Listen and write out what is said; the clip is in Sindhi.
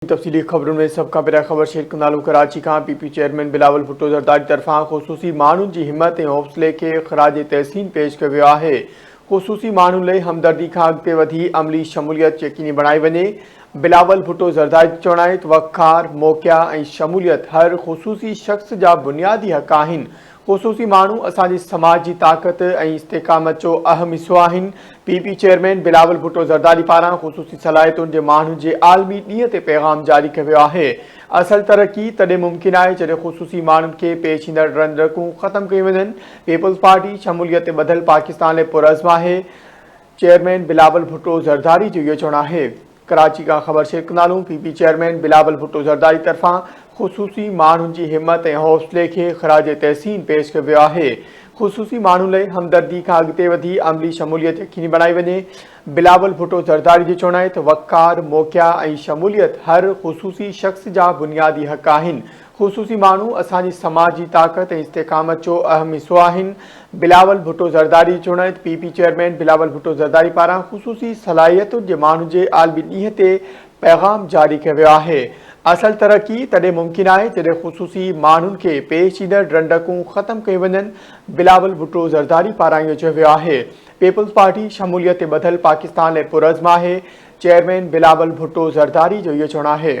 تفصيلي خبرن ۾ سڀ کان پهريان خبر شيئر ڪندالون ڪراچي کان P P chairman Bilawal Bhutto Zardari طرفان خصوصي ماڻهن جي همت ۽ حوصلي کي خراج تحسين پيش ڪيو ويو آهي خصوصي ماڻهن لئي همدردي کان اڳتي وڌي عملي شموليت يقيني بڻائي وڃي بلاول ڀٽو زرداري جو چوڻ آهي ته وقار موقعا ۽ شموليت هر خصوصي شخص جا بنيادي حق آهن خصوصي ماڻهو اسان جي سماج جي طاقت ۽ استقامت جو اهم حصو آهن، P P chairman Bilawal Bhutto Zardari پاران خصوصي صلاحيتن جي ماڻهن جي عالمي ڏينهن تي پيغام جاري ڪيو ويو آهي، اصل ترقي تڏهن ممڪن آهي جڏهن خصوصي ماڻهن کي پيش ايندڙ رنرڪون ختم ڪيون وڃن، پيپلز پارٽي شموليت تي ٻڌل پاڪستان لاء پرعزم آهي، چيئرمين بلاول ڀٽو زرداري جو اهو چوڻ آهي. ڪراچي کان خبر شيخ نالون P P chairman Bilawal Bhutto Zardari طرفان خصوصي ماڻهن جي همت ۽ حوصلي کي خراج تحسين پيش ڪيو ويو آهي خصوصي ماڻهن لئي همدردي کان اڳتي وڌي عملي شموليت يقيني بڻائي وڃي بلاول ڀٽو زرداري جو چوڻ آهي ته وقار موقعا ۽ شموليت هر خصوصي شخص جا بنيادي حق آهن خصوصي ماڻهو اسان جي سماجي طاقت ۽ استقامت جو اهم حصو آهن، بلاول ڀٽو زرداري چونائت P P chairman Bilawal Bhutto Zardari پاران خصوصي صلاحيتن جي ماڻهن جي عالمي ڏينهن تي پيغام جاري ڪيو ويو آهي، اصل ترقي تڏهن ممڪن آهي جڏهن خصوصي ماڻهن کي پيش ايندڙ رنڊڪون ختم ڪيون وڃن، بلاول ڀٽو زرداري پاران اهو چيو ويو آهي، پيپلز پارٽي شموليت تي ٻڌل پاڪستان لاء پرعزم آهي، چيئرمين بلاول ڀٽو زرداري جو اهو چوڻ آهي.